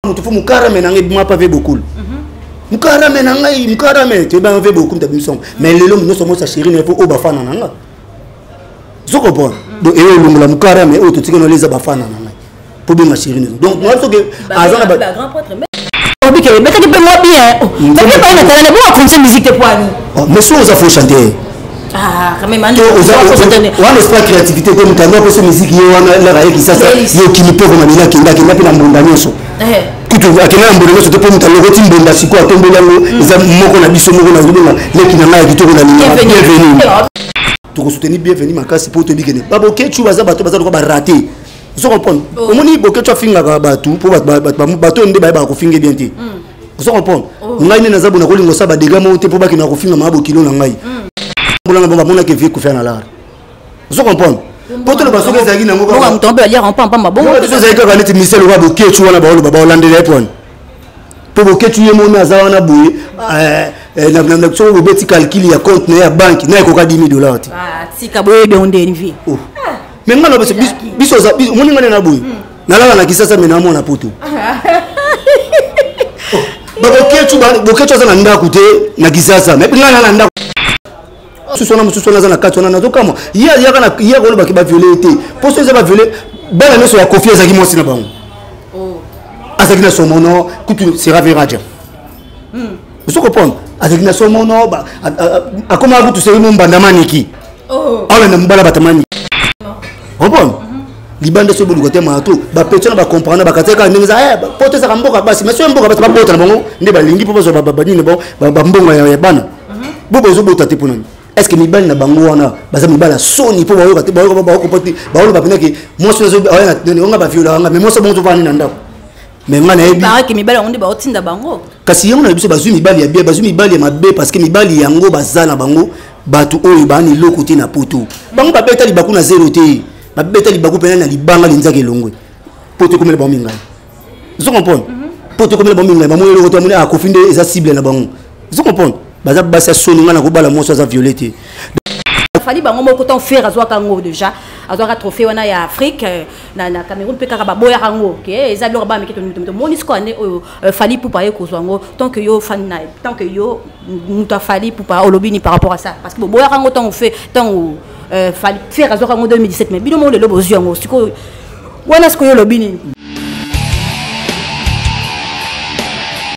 moto fo mokarame na ngai ebima pa ve bokulu mokarame na ngai mokarame toyebanga ve bokulu tabi misongo mais lelo nyonso mosa sheri na ye fo oyo bafana na nga ozo comprendre donc eyo olongola mokarame oyo totikana ole eza bafana na ngai mpo benga sheri na donc nga soki aza na obike ebetaki mpe mwa bien nabi epai na talana bongo akonse musique te poani mais soki oza fo chanter Ah, quand même, Ando, Oza- faut se donner. oza- wana osala créativité te moto yango akosa miziki ye wana elaka ye kisasa Yes. ye okimi mpe okoma lelo akenda akenda mpe na mbonda nyonso Eh, kutu akenda na mbonda nyonso te mpo moto alokoti mbonda sikoyo atomboli yango eza moko na biso moko na zobonga leki na ngai ya kitoko na linga bienvenue. bienvenue Eh, oh, tokosoutenir bienvenu makasi mpo toyebi kende babokechu baza bato baza lokola barate ozo comprendre Oh. omoni bokechu afingaka bato mpo bato ba- bato ba- bato oyo nde bayebaka kofinga bien te ozo comprendre oh. ngai nde naza bona kolinga osala badega moko te mpo bakenda kofinga maa bokilo na ngai hmm. mbola na bango amonaki evie kofia na lar ozo comprendre mpo toloba soki ezalaki nango ezalaki kaka neti misel oka bokecu wana baoloba baolandela ye mpo wana mpo bokecu ye moni aza wana boye eh, Eh, soki bobeti calcule ya compte na ye ya banki na ekoka 10 dollar te ah, tika boyebi yango nde envie oh. me nga na biso omoni nga nde na boye nalala na kisasa me na mwana poto boketsu aza na ndako te na kisasa me nga na na ndako mosusu wana mosusu wana aza na kati wana nazokamwa ye ayaka na ye akolobaki baviole ye te mpo so eza baviole bana nyonso ya kofi azalaki mwasi na bango oh. azalaki na somono kutu sera veraja hmm. ozo kopona azalaki na somo no akomaka kutu seli mo mbanda maniki oh. aolanda mobala bata maniki opona mhm. libanda so boluka te maya to bapetio na bacomprendre bakati kaka ndenge eza eh, poto ezaka mboka basi mais soki mboka basi babota na bango nde balingi mpo bazwa banini bambongo ya bana mhm. bo bozobota te mpo nani est ce que mibali na bango wana baza mibali ya soni mpo bayoka te bayoka baokopa te baoloba mpenza ke mwasi oyo aoya na nani onga baviola wanga mais mwasi bongo tofani na ndako mais ngai nayebibaraki mibali yango nde baotinda bango kasi yango na biso bazwi mibali ya bia bazwi mibali ya mabe parce que mibali yango baza na bango bato oyo baani eloko te na poto bango babeta libaku na zero te babeta libaku mpena na libanga linzaka elongwe poto ekomela bango mingai ozo comprendre mhm. poto ekomela bango mingai bamoni eloko te bamoni akofi ah, nde eza cible na bango ozo comprendre baza basi ya soni ngai nakobala mwasi aza viole te fali bango moko ntango fere azwaka yango deja azwaka trophée wana ya afrique euh, na na Cameroun pe kaka baboya kango ke eh, eza biloko ba mike to mito moni siko ane oyo euh, fali pupa ye kozwa ngo tant que yo fan na tant que yo mutu afali pupa olobi ni par rapport à ça parce que boboya kango tant fait tant euh, fali faire azwa kango 2017 mais bino mo lelo bozwi yango siko wana siko yo olobi nini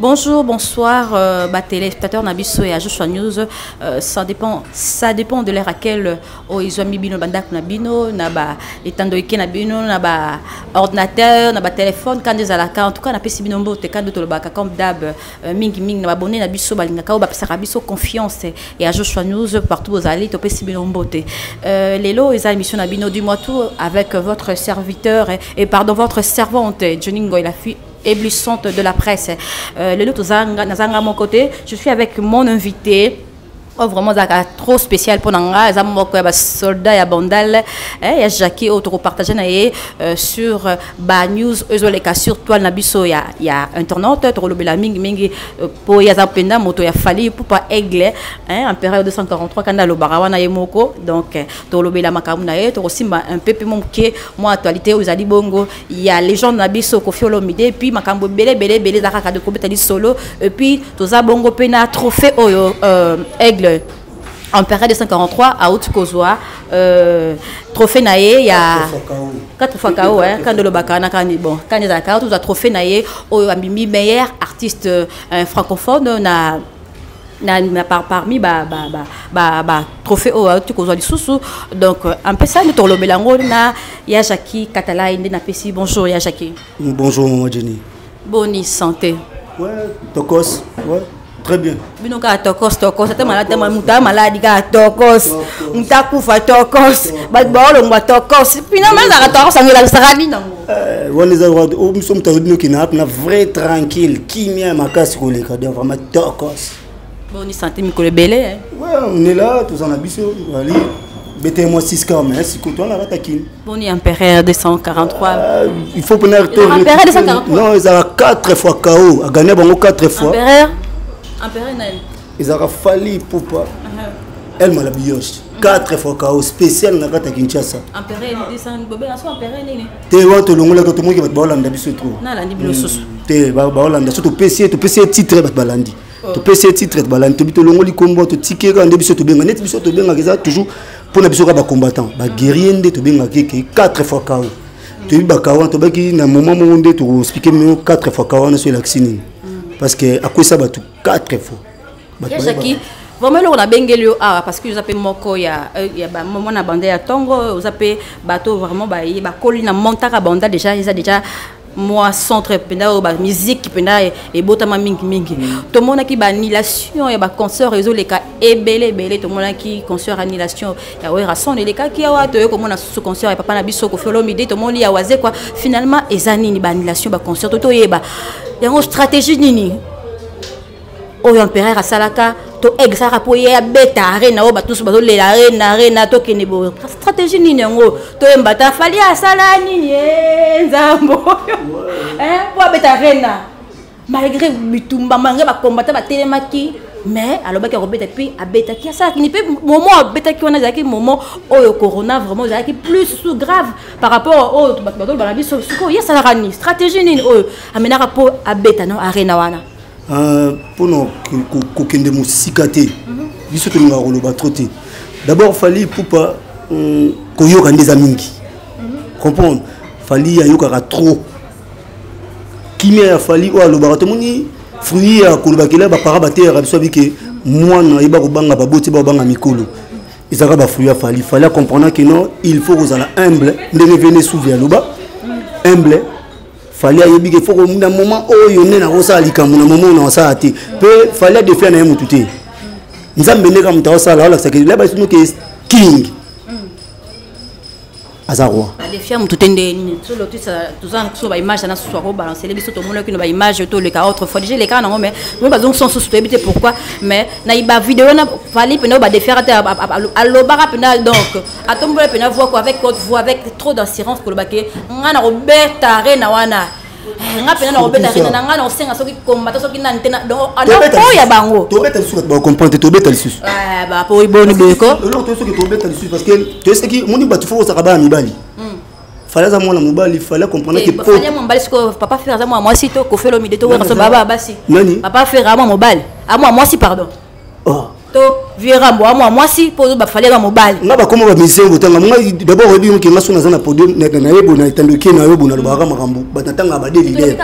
Bonjour, bonsoir, euh, bah, téléspectateurs Nabiso et Joshua News. Euh, ça dépend, ça dépend de l'heure à quelle euh, oh, ils ont mis bino bandak nabino, naba etando ike nabino, naba ordinateur, naba téléphone, quand ils la carte, en tout cas, nape si bino mbo te quand d'autres baka comme d'hab, euh, mingi mingi naba abonné Nabiso balinga kao bapesa Nabiso confiance et à Joshua News partout aux allées, tope si bino mbo te. Euh, Lelo, ils ont émission Nabino du mois tout avec votre serviteur et, et pardon votre servante Johnny Ngoy la fille éblouissante de la presse euh, lelo toza naza nga moko te je suis avec mon invité oyo oh, vraiment ezalaka trop spécial mpo na nga eza moko ya basoldat ya bandal eh, ya jacqui oyo tokopartage na ye euh, sur euh, banews oyo ezoleka sur toile na biso ya, ya internet tokolobela mingimingi mpo euh, ye aza mpenza moto ya fali pupa aigle eh, empereur 243 kanda alobaka wana ye moko donc tokolobela makambo na ye tokosimba un peu mpe moke mwa actualité oyo ezali bongo ya legende na biso kofi olomide epuis makambo ebele ebele ebele eza kaka de kobeta lisolo epuis toza bongo mpe na trophée oyo euh, aigle empereur 243 auti kozwa euh, trophée na ye ya 4 fois kao hein, kanda olobaka wana kani bon kani ezalaka tozwa trophée na ye oyo abimi meilleur artiste euh, francophone na na, na par, parmi ba ba ba ba, ba trophée oyo auti kozwa lisusu donc euh, un peu ça nde tokolobela yango na ya jacqui katalai nde napesi bonjour ya jacqui bonjour mama jenny boni santé ouais tokos ouais très bien bino kaka tokos tokos ata maladi moto aya maladi kaka tokos moto akufa tokos bato baolongwa tokos pina mazaka tokos yango elakisaka nini yango Eh, wana eza oh, biso moto azo bino kina wapi na vrai tranquille kimia ya makasi koleka donc vraiment tokos boni sante mikolo ebele eh? onela toza na biso ali bete mwa 6 cas mais sikoyo towana kata kini boni empereur 243 ah, il faut pona non ezala 4 fois kao agania bango 4 fois ezalaka fali ipupa uh-huh. elma la bioche 4 fois kao spécial na kati ya kinshasa te wana tolongolaka tomoki bato baolanda biso tro hmm. te baolanda so topesi ye topesi ye titre bato balandi oh. topesi ye titre balandi tobi tolongoli nkombo totiki ye kaka nde biso tobenga neti biso tobengaka eza toujours mpo na biso kaka bacombattant baguerrier nde tobengaka eke 4 fois kao toyebi bakao wana tobaki na moment moko nde tokoexplike mio 4 fois kao wana so elakisi nini hmm. parce que akwesa bato 4 fois jaki vraiment eloko nabengeli yo awa parce que oza mpe moko ya euh, mwana banda ya ntongo oza mpe bato vraiment baye bakoli na montaka banda déjà eza déjà mwa centre mpenza oyo bamusike mpenza ebotama mingimingi mm. tomonaki baannulation ya baconcert ezoleka ebele ebele tomonaki concert annulation ya werrason elekaki awa toye komona susu concert ya papa na biso kofi olomide tomoni ya wazekwa finalement eza nini baannulation baconcert to toyeba yango stratégie nini oyo empereur asalaka to exaka mpo ye abeta arena oyo bato nyonso bazolela arena arena tokende boye stratégie nini yango toyemba ta fali asala nini eh, nzambo oyo eh, mpo abeta arena malgré bitumba malgré bakombata batelemaki mais alobaki akobeta mpe abetaki asalaki ni mpe momo abetaki wana ezalaki momo oyo corona vraiment ezalaki plus sous grave par rapport oyo bato batoloba na biso sikoyo ye asalaka nini stratégie nini oyo amenaka mpo abeta no arena wana euh, mpo na kokende mosika te mhm. biso tolingaka koloba trop te d'abord fali pupa euh, koyoka nde eza mingi mhm. comprendre fali ayokaka trop kimia ya fali oyo alobaka tomoni fruit ya kolobakela bapara bateyaka biso abike mwana ayeba kobanga baboti babanga mikolo ezalaka bafruit ya fali fali acomprendre ke non il faut kozala humble ndenge vene souvi aloba humble fali ayebi ke fo na moment oyo nde nakosala likambo na moment oyo nakosala te mpe fali adefia na ye motu te nzambe nde ka moto akosala alakisaka elaba esinoke king aza roi alefia motu te nde nini toza na biso baimage ana susu akobalancele biso tomonaki na baimage toleka autrefois deja elekaka nango mais moi bazongisa mosusu toyebi te pourquoi mais na bavideo wana fali mpenza badefiaka te alobaka mpenza donc atombola mpenza voix avec haute voix avec trop d'assurance koloba ke ngai nakobeta arena wana Eh, nga pena nakobeta rina na nga nakosenga soki kombata soki nani te po ya bango tobeta lisusu kati bacomprendre tobeta lisusu eh, bapoi boni boyeko eloko toyoki soki tobeta lisusu parce que toyesaki moni bato fo kosaka bana mibali hmm. fale aza mwana mobali fale comprendre eh, ke fale mobali siko papa fer aza mwana mwasi to kofelo mide to wakaso baba basi nani papa fer aza mwana mobali aza mwana mwasi pardon oh. to vieux rambo amwa mwasi mpo ozoba fali aza mobali nga bakoma bamizengo tanga nga dabord oyebi yoke nga soki naza na podium nayebo na etandoki na yo bona lobaka makambo bato natanga bade lider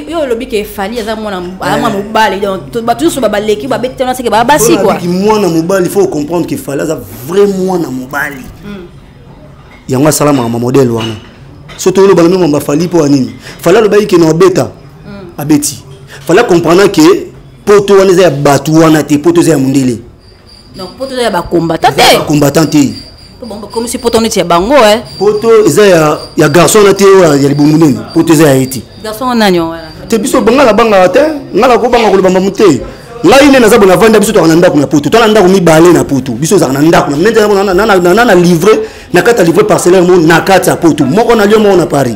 yo olobi ke fali aza mwana eh. mobali donc bato nyonso babaleki babeti tana seke baa basi kuaki mwana mobali faut ocomprendre ke fali aza vrai mwana mobali hmm. yango asalamaka ma modele wana so toyolobaka mema bafali mpo ya nini fali alobaki ke na obeta hmm. abeti fali acomprendre ke poto wana eza ya bato wana te poto eza ya mondele donc poto eza ya bacombatant te bacombatant te bakomisi poto neti ya bango e eh. poto eza ya garçon wana te oyo ya libumu nini poto eza ya ye te garçon wana nani wana te biso banga na bangaka te nga nakobanga koloba mamu te ngai nde naza bona avanda biso tozalaka na ndako na poto tozala na ndako mibale na poto biso ezalaka na ndako na livre na kati ya livre parcellaire mo na kati ya poto moko na lio moko na paris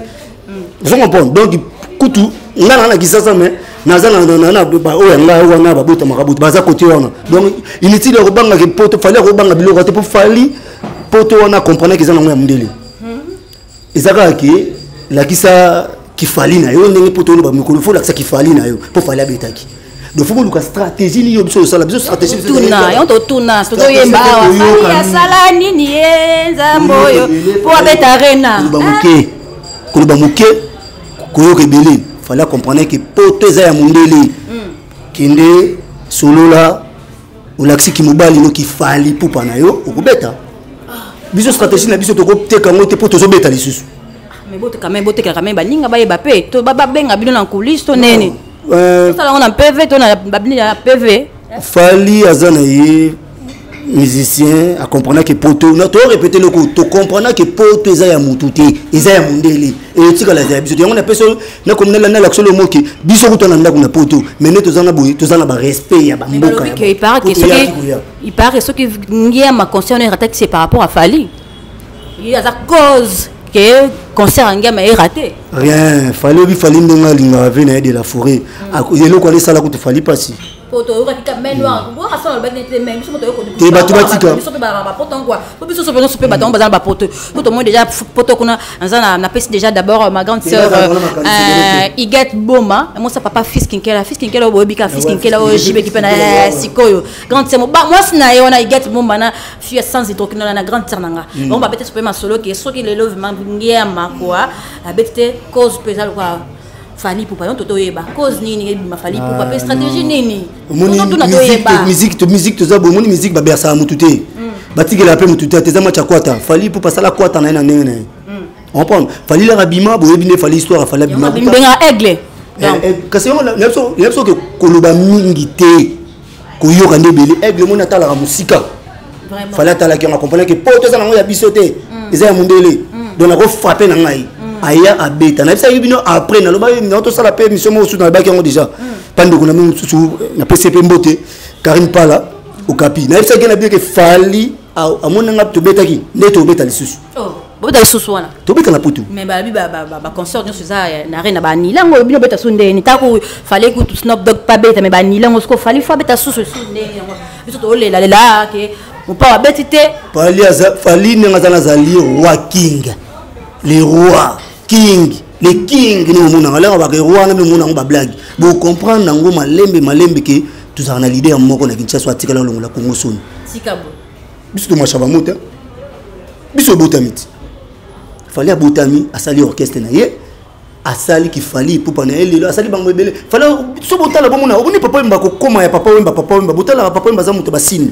ozo comprendre donc kutu nga na na kisasa mais naza na baoyo ya ngai wana babotamaka bote baza kote wana donc inutile ya kobangaka poto fali ya kobanga biloko te mpo fali poto wana akomprenaki eza nango ya mondele eza kaka ke lakisa kifali na yo ndenge poto wana bamikolo fo lakisa kifali na yo mpo fali abetaki donc faut koluka stratégie nini yo biso tosala biso stratégie tuna yo totuna tozoyemba awa fani asala nini ye nzambe oyo mpo abeta arena koloba moke koloba moke koyoka ebele fale acomprendre ke poto eza ya mondele hmm. kende solola olakisi kimobali no kifali pupa na yo okobeta ah. biso stratégie na biso tokoteka yango te mpo tozobeta lisusu mais bote quand même botekela quand même baninga bayeba mpe to babenga bino na coulisse to nene tosala yango na pv to na babini ya pv fali aza na ye musicien akomprenaki poto torepete eloko tokomprenaki poto eza ya motu te eza ya mondele eyotikala eza ya biso te yango napesi nakomi nalanda lakisolo omoki biso kuta na ndako na poto mai nde toza na boye toza na barespect ya bamboka ipare ke soki ngiama conscient oyo atakisi par rapport a fali ye aza cause ke concert ya ngema erate rien fali obi fali ndenge alingaka vie na ye de la forêt hmm. eloko wana esala kutu fali mpasi po toyokaki ka main noire hmm. oyo asala lobaki nete main biso moto yokote eh, bato batika biso mpe balaka bapoto yango po biso sope nyonso mpe bato yango baza na bapoto po tomoni déjà poto kuna naza napesi déjà d'abord euh, ma grande eh, sœur euh, igate boma mosa papa fils kinkela fils kinkela oyo boyebi ka fils kinkela oyo jibeki mpe na sikoyo grande sœur ba mwasi na ye wana igate bomba na fille sans hydroquinone na grande sœur na nga mm. bango babeti sope masolo ke soki lelo ngia makua abeti te cause mpe eza lokola fali pupa yo toto oyeba cause nini ebima fali ah, pupa mpe stratégie nini musique toza boye omoni musique babersaka motu te mm. batikela mpe motu te te eza match ya kwata fali pupa asala kwata na ye na ndenge na ye mm. comprendre fali laka bima boyebi nde fali histoire afali abima kasi yango na biso oke koloba mingi te koyoka nde ebele aigle moni atalaka mosika fale atalaki yango akomprana ke poto eza nango ya biso te mm. eza ya mondele mm. donc nakofrape na ngai mm. aya abeta nayebisaki bino après nalobaki nao tosala mpe émission moko susu nalobaki yango déjà mpa ndeko na mino mosusu napesi mpe mbote karine pala okapi nayebisaki na bino ke fali amoni nga tobetaki nde tobeta lisusu oh, bobeta lisusu wana tobeta na putu mais balobi baconsort nyonso eza na re na banila yango bino beta so ndeni ntango fale kutu snop dog pa beta me banila yango soko fali fo abeta susu su ndeni yango biso tolelalela ke mopao abeti te fali aza fali ndenge aza na azali roi king le roi king le king nde bomonaka alaka bakero wana mpe omonango bablage bocomprendre yango malembe malembe ke tozalaka na lide ya moko na kinshasa oyo atikala olongola kongo soni biso tomashaba mota biso obotami ti fali abotami asali orchestre na ye asali kifali ipupa na ye lelo asali bango ebele fali so botala bomona oboni papa wemba kokoma ya papa wemba papa wemba botalaka papa wemba aza moto basini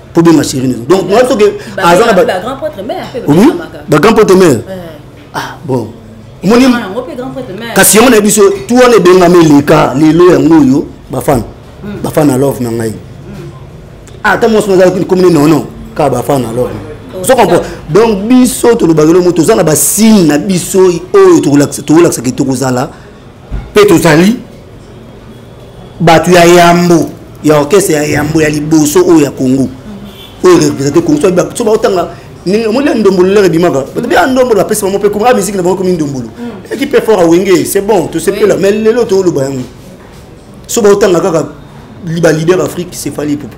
mpo benga chéri na donc nga soki aza na bagrand potre mare ah bon omoni kasi yango nayebi biso tu wana ebengami eleka lelo yango oyo bafana hmm. bafana love na ngai hmm. ah, ata mwasi nazalaki komine nono kaka bafana love sokompo oh, donc biso tolobaka elongo toza na basigne na biso oyo tokolakisaka tokozala mpe tozali bato ya yambo ya orchestre ya yambo ya liboso oyo ya congo oyo represente congo so baotanga omoni ya ndombolo lere ebimaka bato bya ndombolo bapesi bango mpe koma miziki na bango ekomi ndombolo ekipe fort awenge c'est bon tosepela mais lelo tooloba yango so baotanga kaka balider afrique sefali epupu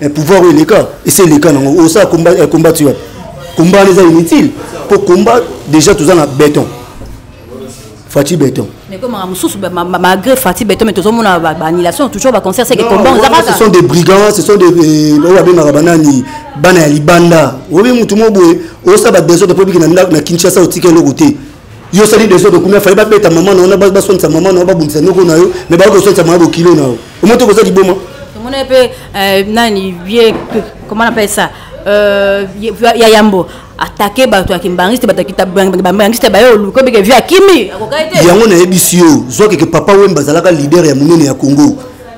eh, pouvoir oyo eleka esi eleka nango osala eh, combat ti wapi combat wana eza inutile mpo combat déjà toza na béton fati béton ekomaka mosusu malgré fati béton mais tozomona baannulation toujours baconcert seke combat oza kaka ce sont des brigands ce sont des eh, oyo babengaka banani bana ya libanda oyebi motu mo boye osala badesordre mpo biki na kinshasa otika eloko te yo sali desordre kumia faye babeta mama na yo baswanisa mama na yo babundisa noko na yo me baoki koswanisa mama bokilo na yo omoto koza liboma tomona ye mpe euh, nani ye comment appelle ça euh, ya yambo atake bato ya kimbangiste bato ya bambangiste baye oluki obike vie akimi yango nayebisi yo zwakeke papa wemba azalaka leader ya monene ya congo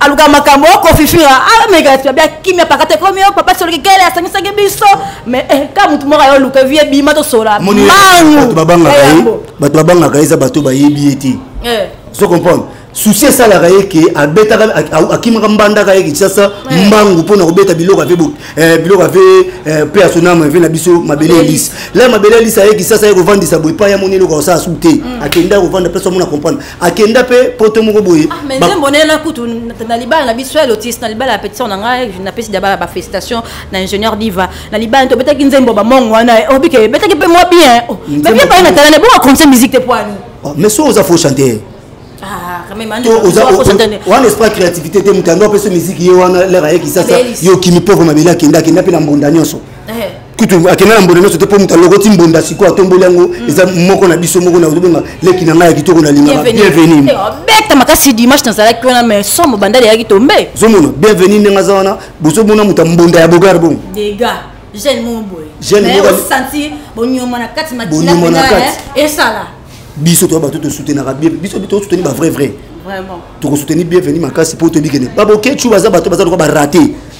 aluka makambo oko oh, fifira ameka ah, tobia kimia pakata ekomi yo oh, papa soloki kele asangisaki biso mais eh, ka motu moko ayo luka vie bima tosola mangubato babangaka ye bato babangaka ye eza bato bayebi ye te eh. so comprendre susi esalaka ye ke abetaka akimaka mbandaka ye kinshasa eh. mbangu mpo na kobeta biloko ave eh, biloko ave eh, pe asonama ave na biso mabele elisi la mabele elisi aye kinshasa ye kovandisa boye epai ya moni eloko asala su te mm. akenda kovanda place amona comprendre akenda mpe poto moko boye ah, mais nzembo na ye na kutu na libala na biso ya lotis na libala ya petition na ngai napesi daba ba félicitation na ingénieur diva na libala tobetaki nzembo bamongo wana eh, obike oh, ebetaki mpe mwa bien oh, mais bien pai na talana ebonga conseil musique te poani oh, mais so oza faux chanteur ah, wana esprit ya créativité te moto yango apesa miziki ye wana lere ayekisasa yo okimi pauvre mabele akenda akenda mpe na mbunda nyonso eh. kutu akenda na mbonda nyonso te mpo moto alokoti mbonda sikoyo atomboli yango mm. eza moko na biso moko na ozobenga leki na ngai ya kitoko na lingaka bienvenu eh, beta makasi dimanche nazalaki wana mai somo bandali yaki tombe zomona bienvenu ndenge aza wana bozomona moto ya mbonda ya bogar bongo jeune moko boye jeune moko osanti bonyoma na kati makila na kati eh, esala biso to bato to soutenaka bien biso to soutenir ba vrai vrai vraiment to ko soutenir bienvenue makasi po to bikene babokechu baza bato baza lokola ba rater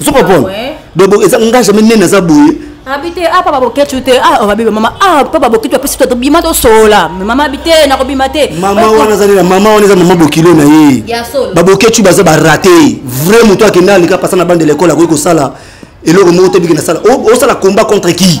ozo comprendre donc eza nga jamais nene aza boye abi te ah papa boketchu te ah babi mama ah papa boketchu apesi to tobima tosola me mama abi te nakobima te mama wana azali na mama wana eza mama bokilo na ye baboketchu baza barate vrai moto akenda aleka pasa na bande lekole akoki kosala eloko moko te biki nasala osala combat contre qui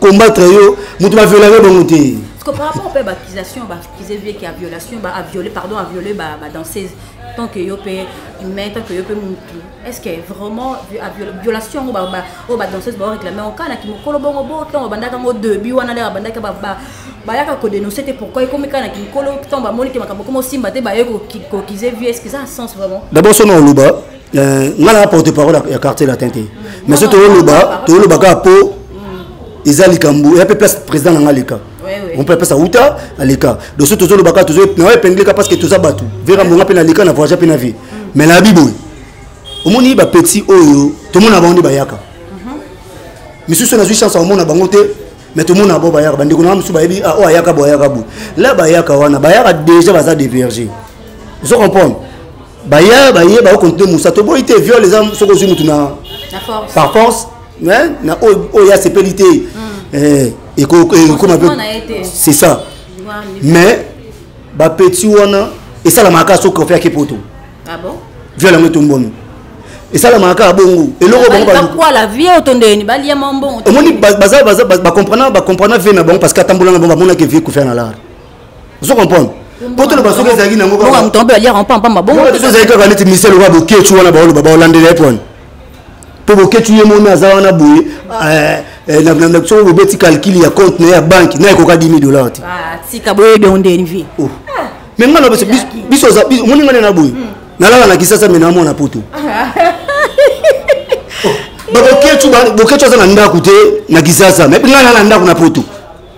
combattre yo mutu ba viola yo bango te parce que par rapport pe ba accusation ba accusé vie qui a violation ba a violé pardon a violé ba ba danseuse tant que yo pe mais tant que yo pe mutu est-ce que vraiment a violation ba ba o ba danseuse ba réclamer en kana ki mukolo bongo bo tant ba ndaka ngo début wana la ba ndaka ba ba bayaka kodenonse te pourquoi ekomi kaka na kinkolo ntango bamoni te makambo koma osimba te baye kokize vie est ce que eza sens vraiment d'abord sona oloba Euh, nga na porte parole ya quartier latin te mais so toloba toloba kaka po mm. eza likambo ya mpe place président na nga leka on peut appeler ça uta aleka donc so tozoloba kaka tozo na epingle kaka parce que toza bato vera mbonga mpe na leka na voyage mpe na vie mm. mais na biboye omoni bapetit oyo tomona bango nde bayaka mm-hmm. misusu nazwi chance akomona bango te mais tomona bo bayaka bandeko na mosusu bayebi ah, oyo ayaka bo ayaka bo la bayaka wana bayaka déjà baza déverge ozo comprendre baya baye ba continue musa to boyi te viol eza soki ozwi mutu na par force hein na oyo oyo ya sepeli te hmm. eh ekoma pe c'est ça mais ba petit wana esalamaka kaka soki kofi ake poto ah bon viol yango etombono esalamaka kaka bongo eloko bango bakwala vie otondeni balia mwa mbongo omoni baza bakomprana bakomprana vie na bango parce que atambolana bango bamonaka vie kofia na lar ozo comprendre mpo toloba soki ezalaki nango kaka moto mpe aliaka mpampa mabongo biso ezalaki kaka neti misel oka boketu wana baoloba baolandela ye mpo wana mpo boketu ye moni aza wana boye eh, Eh, soki bobeti calcul ya compte na ye ya banki na ekoka 10 dollar te ah, tika boyebi yango nde envie oh. ah. mais nga lobeso biso omoni nga nde na boye hmm. nalala na kisasa me namona poto ah. oh. babokecu aza na ndako te na kisasa me nga nala na ndako na poto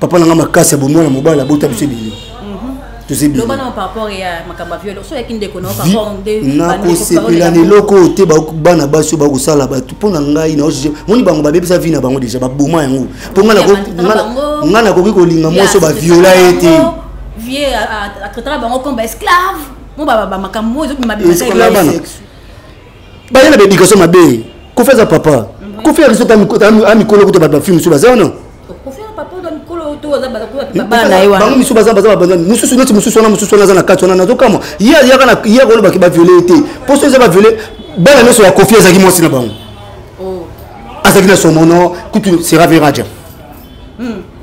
papa na nga makasi ya bomwana mobali abota biso ebele nakosepela na eloko oyo te bana basi oyo bakosala bato mpo na ngai moni bango babebisa vi na bango deja baboma yango mpo ngai nakoki kolinga mwasi oyo baviola ye te vieux baye na baéducation mabe kofi aza papa kofi ya riso a mikolo kuta bato bafi mosusu baza wana bango misu baza baza babanza mosusu neti mosusu wana mosusu wana aza na kati wana nazokamwa ye ayaka na ye akolobaki baviole ye te mpo so eza baviole bana nyonso ya kofi azalaki mwasi na bango oh. azalaki na somono kutu sera veraja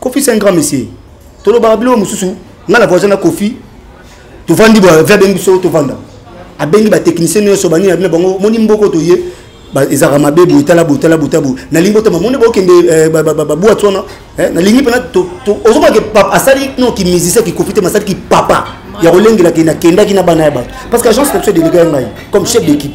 kofi c'est un grand monsieur tolobaka biloko mosusu ngai na voisin na kofi tovandi boya ve abengi biso tovanda abengi batechnicien nyonso banini abina bango moni mboko toye ezalaka mabe boye tala boye tala boye tala boye nalingi botama moni bokende eh, babwati wana eh, nalingi mpena ozomake asali no kimusicien kikofi te masali kipapa ya kolengelaki nakendaki na bana ya bato parce que agence na biso edelega ya ngai comme chef d'équipe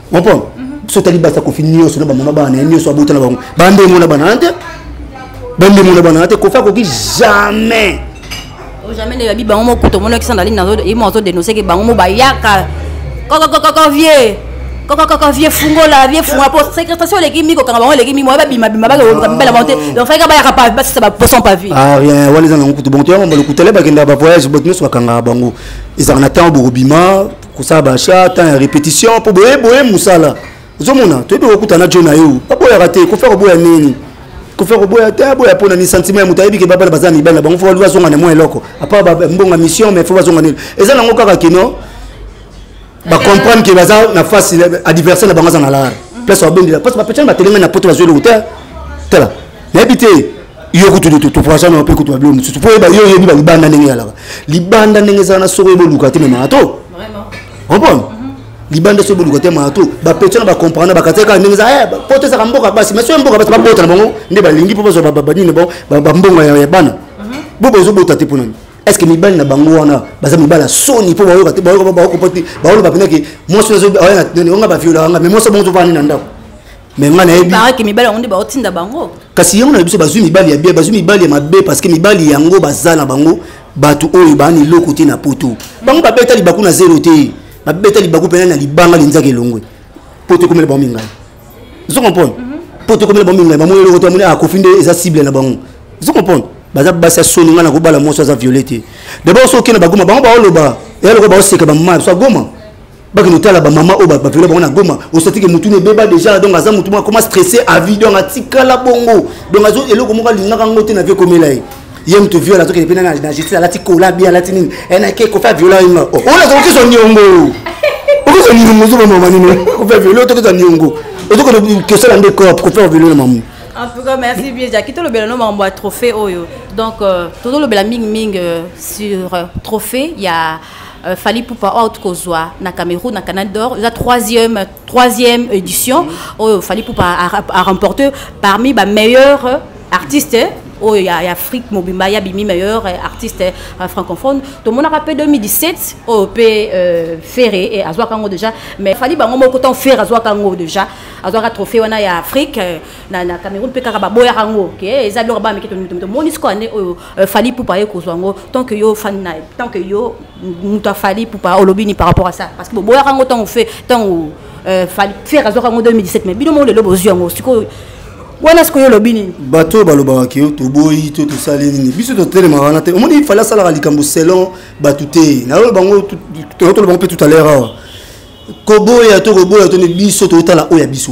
comprendre biso etali basi ya kofi nyonso na bamama bana na ye nyonso abota na bango bandemo na bana te bandemo na bana te kofi akoki jamais oh, jamais ne yabi bango mokuta omonaki sandalini nazo ye mo azo denoncer ke bango mo bayaka kokokokoko vieux kokokoko vieux fungola vieux fungola po sécrétation eleki mi kokanga bango eleki mi moye babimabima bakoluka mibela bango te ah. donc fayika bayaka pa basisa baposon pa vie ah rien wana eza nango kutu bongo toyanga mbala kutale bakendaka bavoyage bato nyonso bakangaka bango ezalaka na ntango bokobima kosala bacha temps ya répétition mpo boye boye mosala ozomona toyebi kokuta na jo na yo baboyaka te kofa koboya nini kofa koboya te aboya mpo na ni sentiment ya moto ayebi ke babana baza mibali na bango fo baluki bazonga na mwa eloko apa mbonga mission mais fo bazonga nini eza nango kaka kino bacomprendre ke baza na face adversaire na bango aza na lara place babendela parce bapetani batelengani na poto bazwi eloko te tala nayebi te yo kutu totoprasa na mpe kutu babilo mosusu mpo oyeba yo oyebi balibanda ndenge ezalaka libanda ndenge ezala na soko oyeba oluka te me marato comprendre mhm. libanda soki boluka te marato bapetio na bacomprendre bakataki kaka ndenge eza mpo eh, tezaka mboka basi mais soki mboka basi babota na bango nde balingi mpo bazwa banini na bango bambongo ya bana mhm. bo bozobota te mpo nani est ce que mibali na bango wana baza mibali ya soni mpo bayoka te bayoka baokopa te baoloba mpenza ke mwasi oyo azoya na nani onga baviolaka nga mais mwasi bango ozovanda nini na ndako mais ngai nayebibaraki mibali yango nde baotinda bango kasi yango na biso bazwi mibali ya bien bazwi mibali ya mabe parce que mibali yango baza na bango bato oyo baani eloko te na poto bango babeta libaku na zero te babeta libaku mpena na libanga linzaka elongwe poto ekomela bango mingai ozo comprendre mhm. poto ekomela bango mingai bamoni eloko te amoni akofi ah, nde eza cible na bango ozo comprendre baza basi ya soni ngai nakobala mwasi aza viole te dabord soki okenda bagoma bango baoloba eloko baoseka bamama biso agoma bakende otala bamama oyo baviola bango na goma ostatike motu na ebeba déjà donc aza motu moko akoma stresse avi donc atikala bongo donc azo eloko moko alingaka yango te na vie ekomela ye ye moto viola azokende mpe na justice alati kola bi alati nini enake kofi aviola ye oh, oyo naza kokisa niongo okisa niongo ozoba mama nini kofi aviola otokisa niongo ozokende kosala nde corp kofi aviola na mamu en tout cas merci bien jaki tolobela no makambo ya trophée oyo donc euh, tozolobela mingimingi euh, sur euh, trophée ya Euh, Fali Ipupa out kozwa na Cameroun na Canal d'Or la troisième troisième édition oyo oh, Fali Ipupa a, a remporté parmi ba meilleurs artistes oyo oh, ya, ya afrique mobimba ya bimi meilleur eh, artiste eh, francophone tomonaka mpe 2017 oyo mpe euh, ferre eh, azwaka yango déjà mais fali bango moko ntango ferre azwaka yango déjà azwaka trophée wana ya afrique na, na cameroun mpe kaka baboyaka yango ke eza biloko bameke tomoni sikoyo ane oyo Euh, Fali Poupa aye kozwa yango tant que yo fan na tant que yo moto afali Poupa olobi ni par rapport à ça parce que boboyaka yango ntango fe ntango euh, fali fer azwaka yango 2017 mais bino moko lelo bozwi yango sikoyo wana sikoyo olobi nini bato oyo balobaka ke toboyi to tosali nini biso totelema wana te omoni fali asalaka likambo selon bato te nayo bango toloba yango mpe tout à l'heure awa koboya to koboya to nde biso toyotala oyo ya biso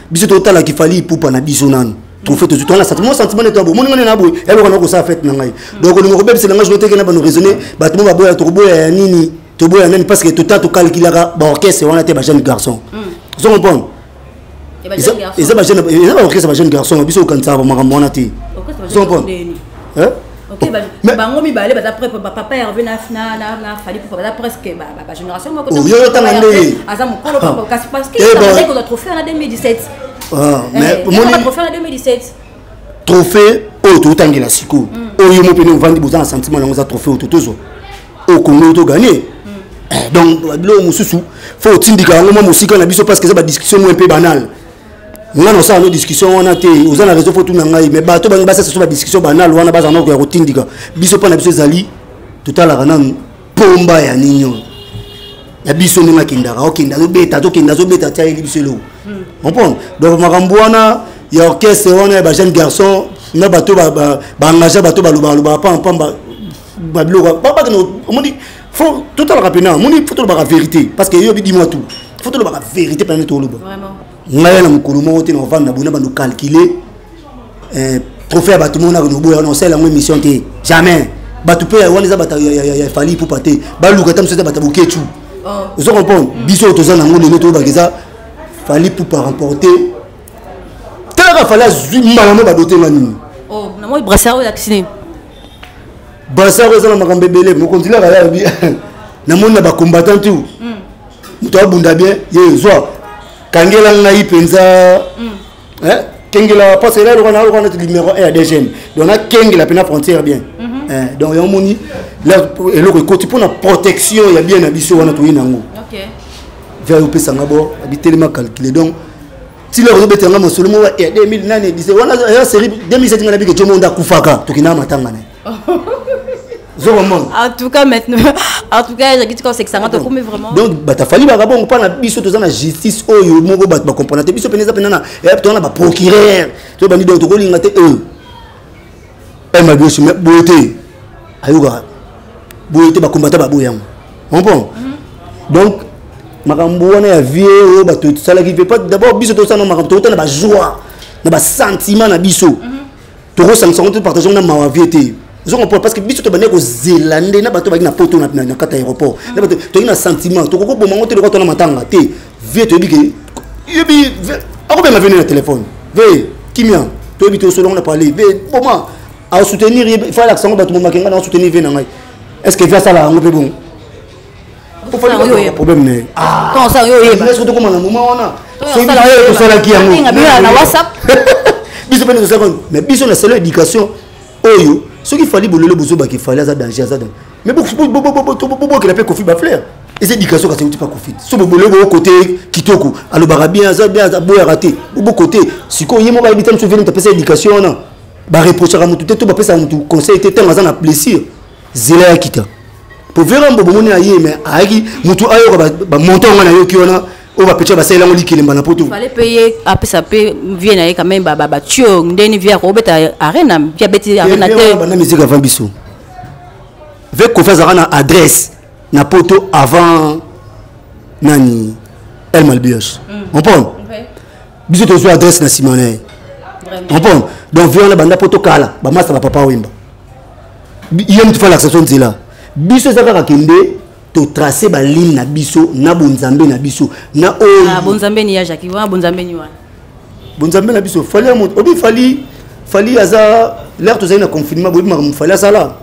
biso totala kifali ipupa na biso nanu trophée tozwi towana sentiment mo sentiment nde toabo moni ngai na boye yaloka na kosala fete na ngai donc olinga kobebisela ngai jonoteke na bano raisonne bato mo baboya tokoboya ya nini toboya nani parce que tota tokalkilaka baorchestre wana te bajeune garçon hmm. ozo comprendre eza baorchestre bajeune garçon biso okanisaka bamakambo wana te ozo comprendre Ok, ba, mais, bango mibale baza près ba papa Hervé na na na na Fally pour baza presque ba ba, ba génération moko. Oh, yo tanga nde. Aza mukolo ah. papa kasi parce que eh ça veut dire trophée en 2017. Ah, eh, mais pour moi trophée en 2017. Trophée oyo totangela sikoyo hmm. oyo mo pene ovandi boza na sentiment yango eza trophée oyo totozwa oyo kongo oyo toganie hmm. eh, donc biloko mosusu fo otindika yango mwa mosika na biso parce que eza badiscussion mwa mpe banale nga nosala no discussion wana te oza na réseau fo tuna ngai mais bato bangi basasa so badiscussion banalo wana bazala nakoya kotindika biso mpo na biso ezali totalaka nanu mpomba ya nini oyo ya biso ndenge akendaka okenda azobeta tokenda azobeta tiayeli biso eloko comprendre donc makambo wana ya orchestre wana ya bajeune garçon na bato baengagea bato balobaka lobaka pamba pamba babiloko omoni fo totalaka mpena moni fo tolobaka vérité parce que eyobi dimwa tu fo tolobaka vérité mpena nde toloba ngai na mokolo moko te na ovanda bona bando calcule eh, trophée ya bato moko na konoboya wana osala yango émission te jamais bato mpe wana eza bato ya fali ipupa te baluka ata mosusu eza bato ya bokecu oh. ozo comprendre mm. biso oyo toza nango lelo toyebaka eza fali ipupa remporte talaka fali azwi mbala mo badote nga nini oh, bazar eza na makambo ebele mokonzi laka ya bi namoni na bacombattant tu hmm. moto abunda bien ye zwa kangela ngai mpenza hmm. eh, kengela parce ela eloko nayoka neti numero 1 ya dgm donc nakengela mpena frontière bien mhm. eh, donc yango moni eloko ekoti mpona protection ya bien na biso wana toyei na yango vers opesanga bor abitelema calcule donc tila kozobetela nga masolo moko ya 2000 nani edise wana ya série 2007 nga nabike jomo nde akufaka tokenda matanga na ye en tout cas maintenant en tout cas ezalaki tika osekisanga tokomi vraiment donc batafali baka bongo mpo na biso toza na justice oyo moko bato bacomprendre te biso mpenza mpenza toza na baprocureur to bandi donc tokolinga te eux pema bioso mais boye te ayokaka boye te bakombata baboye yango comprend donc makambo wana ya vie oyo bato esalaki mpe d'abord biso tosala makambo tokota na bajoie na basentiment na biso mhm. tokosangisa yango te partage yango na mawa vie te ozo comprendre parce que biso tobandaki kozela nde na bato baki na poto na kati ya aéroport na bato toyei na sentiment tokoki koboma yango te lokwa tona matanga te vie toyebi ke yebi akobenga vie na telefone ve kimia toyebi te osolongo na parle ve boma asoutenir ye ifai alakisa yango bato momake ngai na asoutenir vie na ngai est ce que vie asala yango mpe bongo problème na ye soki tokoma na moma wana tosalaki yango biso mpe tosalaki mais biso na selo éducation oyo soki fali bolole bozobaki fali aza danger aza danger Mais bobokela mpe kofi bafleur eza éducation kasi euti mpa kofi so bobole boo kote kitoko alobaka bien aza bien aboyaka te bobokote sikoyo ye moko ayebi te mosu veni moto apesa éducation wana bareprochaka motu te to bapesaka motu conseil te ntango aza na blessure zela ya kita mpo vera mbo bomoni aye me ayaki motu ayoka bamontant yango nayoki wana oyo bapetra basalela yango likelemba na poto fale mpe ye apesa mpe vie na ye quand même batio ndeni vie akobeta arena vie abeti arena te banda miziki avant biso ve kofi azalaka na adresse na poto avant nani el malbios mm. comprendre okay. biso tozwa adresse na nsima na ye comprendre donc vie wana banda poto kala bamasta na papa wemba ye motu falakisa so nzela biso eza kaka kende totrace baligne na biso na bonzambe na biso na oyo ah, bonzambe ni ya jaki wana bonzambe ni wana bonzambe na biso fali ya moto obi fali fali aza lere tozali na confinement boyebi makambo fali asala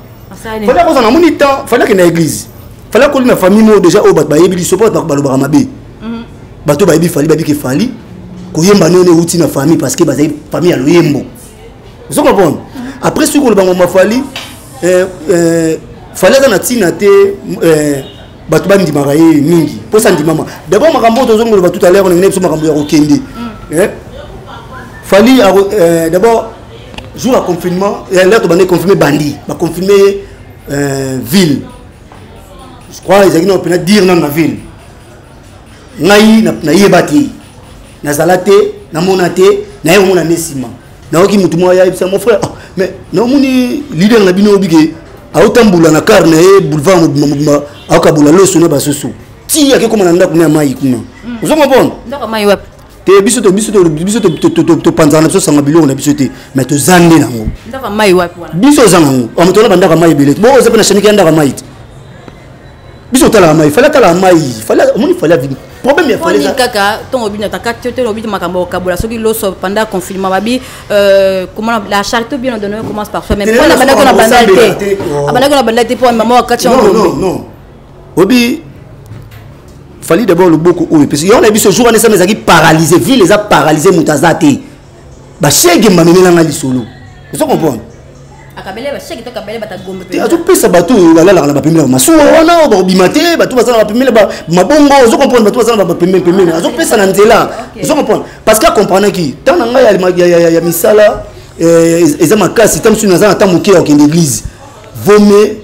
fali akozala namoni temps fali akenda église fali akoli na famille moko déjà oyo bato bayebi liso mpo bato balobaka mabe mhm. bato bayebi fali babiki fali koyemba niono euti na famille parce que bazali famille ya loyembo ozo comprendre mhm. après soki koloba ngomba fali eh, eh, fali aza na ntina te eh, bato bandimaka ye mingi mposa ndimama d'abord makambo oyo tozongi koloba tout à l'heure olingi na biso makambo ya kokende mm. eh? fali euh, d'abord jour ya confinement eh, lere tobandaki confirme bandi baconfirme ye euh, ville je crois ezalaki nao mpena dire nano na ville ngai nayeba te nazala te namona te naye omona ne nsima nayoki motu moko ayayebisa mon frère ah, mais namoni leader na bino oyobi ke aotambola na kar na ye boulevard mobimba mobimba aokabola loso na basusu ti ake koma na ndako na ya mai kuna hmm. ozo comprendre te biso topanzaka na biso sanga biloko na biso te mais toza nde nango biso oza nango amotola bandako ya mai ebele bo oza mpe na shanike ya ndako ya mai te biso otalaka mai fali atalaka mai fali omoni fali avini problème ya fali kaka ntongo bino ataka te te lobi makambo okabola soki loso pendant confinement babi euh, comment la charité ou bien on donne commence par soi même mpo na bandaki na banda te oh. abandaki na banda te mpo mama wakati yango non non obi fali d'abord loboko oyo epesi yango na biso jour wana esama ezalaki paralyse ville eza paralyse moto aza te bashege mamemela ngai lisolo ozo comprendre azopesa bato oyo balalaka na bapemele ya masuwa wana oyo bakobima te bato baza na bapemele mabongo ozo comprendre bato baza na bapemele pemele azopesa na nzela ozo comprendre parce que akomprenaki ntango na ngai ya misala eh, eza makasi ntango mosusu naza na ntango moke ya kokende église vome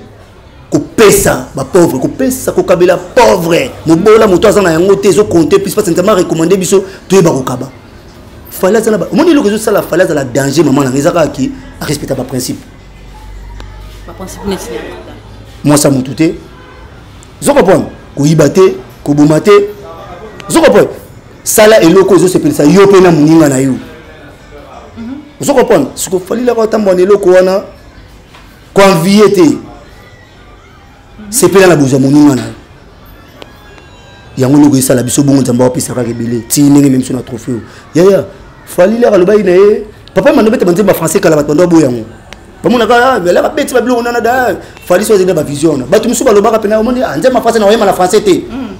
kopesa bapauvre kopesa kokabela pauvre mobola moto aza na yango te ezokonte plus parce nzambe arecommande biso toyeba kokaba fale azala omoni eloko ezosala fale azala danger mama nanga eza kaka ki arespecta baprincipe mwasa motu te ozo comprendre koyiba te koboma te ozo comprendre sala eloko ezosepelisa yo mpe na moninga na yo mhm. ozo comprendre siko falilaka otambola na eloko wana koenvie te sepela na bozwa moninga na yo yango noko esala biso bongo nzambe apesa kaka ebele ti ndenge meme so na tropheo yaya falili aka alobaki na ye papa mando bete banzemba français kala bato bando aboya yango bamonaka belaka ah, beti babiloko nana da fali so azali na bavision wana bato mosusu balobaka mpena omoni ah, nzemba français na oyemba na français te mm.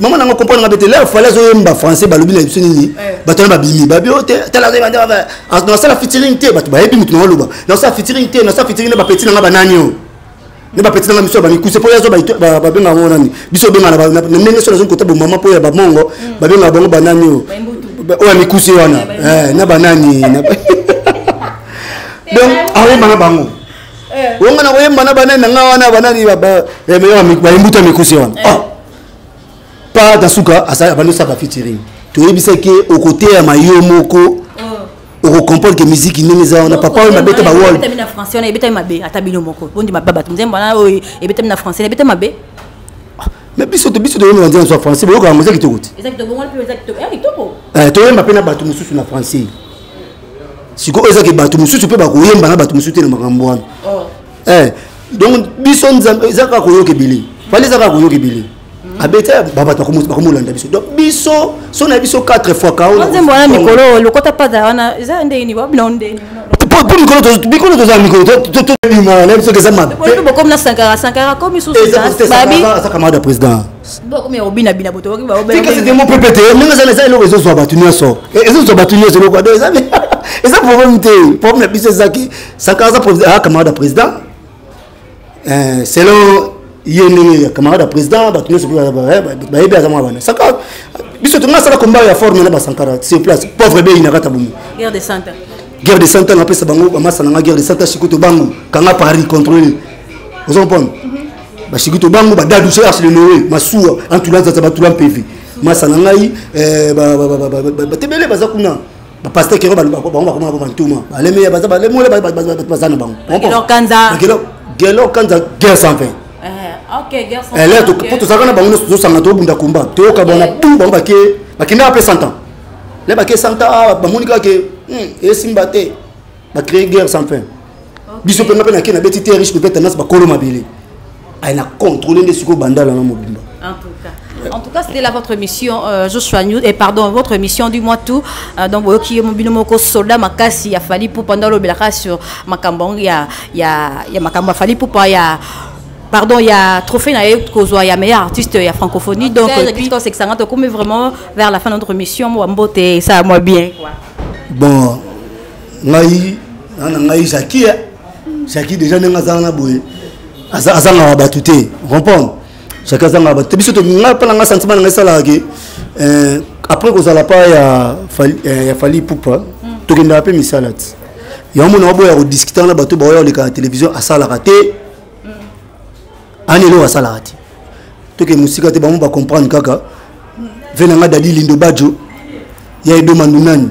mama nango comprendre nga bete leo fale azoyemba français balobi na biso nini eh. bato wana babimi babi o oh, te talanasala fitiring te bato bayebi motu nango aloba nasala fitiring te nasala fitiring na bapeti nanga banani o ne bapeti nanga biso ya bamikuse mpo yazo babenga yango nani biso obenga na ndenge so nazongi kota bomama mpo ya bamongo hmm. babenga bango banani o oyo ya mikuse wana eh, na banani donc aoyemba na bango eh. onga na koyemba na banani na nga wana banani bayembuta mikusi wana eh. ah. pa na suka abandi osaka fitiring toyebisaki okoteyama yo moko oh. okokomprendre ke miziki ndenge eza wana papa oyo mabeta bawol ebetami mabe ata bino moko bondima babato nzembo wana oyo ebetami na français ebetami mabe mais biso te biso toyemba nzembo ya français boyoka yango eza kitoko te toyemba mpe na bato mosusu na français sikoyo ezaki bato mosusu mpe bakoyemba na bato mosusu te na makambo wana oh. eh, donc biso nzambe eza kaka koyoka ebele fali eza kaka koyoka ebele mm. abeti babato bakomolanda biso donc biso so na biso 4 fois kaonzembo wana mikolo lokota pada wana eza ndeni babina ndeni po mikolo tozala mikolo tobima na biso eza mabecamarade ya président c'était mon pépé te ndenge eza eza eloko ezozwa bato nyonso ezozwa bato nyonso eloko ado eza eza problème te problème na biso ezaki sankara aza ah, camarade ya président eh, selon ye ndenge ya camarade ya président bato nyonso bayebi aza mwa bana sankara biso tonga asala combat ya forme na basankara sur place pauvre beyi na kata bomo guerre de santa guerre de santa napesa bango bamasana nga guerre de santa sikoto bango kanga paris contrôle ozo comprendre basikito bango badadu se arsene noe masuwa antula nzanza batula mpeve masa na ngai eh, batebele baza kuna bapaster kero bango bakomaka bantuma balemeya baza balemole baza na bango gelo kanza guerre sans fin po tozalaka na bango nyonso tozosanga tobunda komba toyoka bango na bu bango bake bakendaka mpe 100 ans le bake 100 ans ah, bamoni kaka ke hmm, esimba te ba créer guerre sans fin biso mpe nga mpe nake nabeti te riche peut-être tendance bakolo mabele aye na contrôle nde sikoyo bandala na mobimba en tout cas En tout cas, c'était là votre mission, euh, Joshua News, et pardon, votre mission du mois tout. Euh, donc, vous qui mobile moko soldat makasi ya fali pour pendant le belaka sur makambang ya ya ya makamba fali pour pas ya pardon il y a trophée na ye kozwa ya meilleur artiste ya francophonie donc puis c'est que ça on vraiment vers la fin de notre mission moi mbote ça moi bien quoi bon ngai na na ngai jaki ya jaki deja ndenge azanga na boye azangaka bato te comprendre jaki azangaka bato te biso ngai mpa na ngai sentiment na ngai esalaka ke eh, après kozala mpa ya eh, fali pupa mm. tokendaka mpe misala ti yango mona waboya kodiskutaka na bato baoya koleka na télévision asalaka te mm. ani eloko asalaka te toke mosika te bango bacomprendre kaka mm. ve na ngai dadi lindo badjo ya edomandunani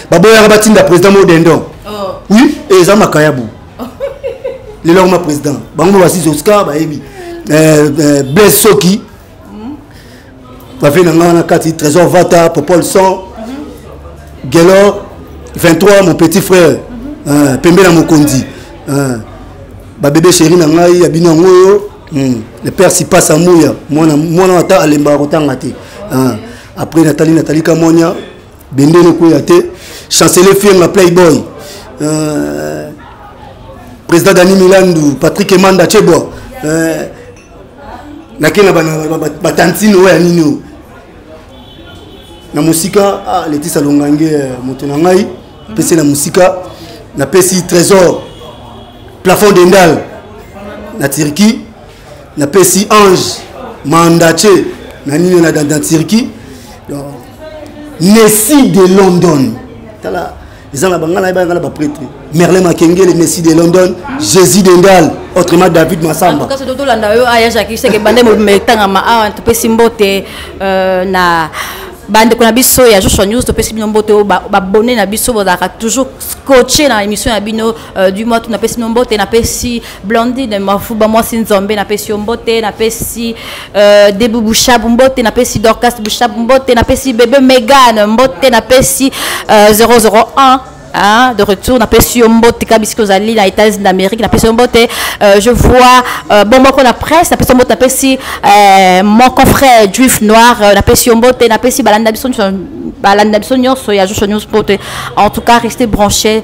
baboyaka batinda président mo dendon oh. oui eza makayabu lelo yango ma président bango basi oscar bayebi euh, euh, blaise soki hmm? bafei na ngai wana kati trésor vata popol son gelor 23 mon petit frère mhm. euh, pembe na mokonzi babebe chéri na ngai ya bino yango oyo hmm. le père sipasa muya mwana ata alembaka kotanga te après natali natali kamonia bendele kweya te chancele fienga playboy euh, président dani milandu patrick emanda chebwa euh, nake na batantine oyo ya nini oyo na mosika ah, letisa longange euh, moto na ngai pesi na mosika napesi trésor plafond dendal na turquie na pesi ange mandace na nini na dans turquie messi de london tala eza na bangana yebanga na baprêtre merlin makengele messi de london jésus dendal autrement david masamba tolanda yo aya jacques seke bande mobima etangama awa topesi mbote euh, na bandeko na biso ya joshua news topesi bino mbote oyo babone na biso bozalaka toujours coache na émission ya bino euh, du mois to napesi bino mbote napesi Blondine Mafuba mwasi nzombe napesi yo mbote napesi euh, Debu Bushabu mbote napesi Dorcas Bushabu mbote napesi Bebe Megan mbote napesi euh, 001 Hein, de retour na pesi yo mbote kabisiki ozali na états-unis d'amérique na pesi yo mbote euh, je vois euh, bon moko na presse na pesi yo mbote na pesi euh, mon confrère juif noir euh, na pesi yo mbote na pesi balanda biso nyonso balanda biso nyonso ya joshua news mbote en tout cas restez branché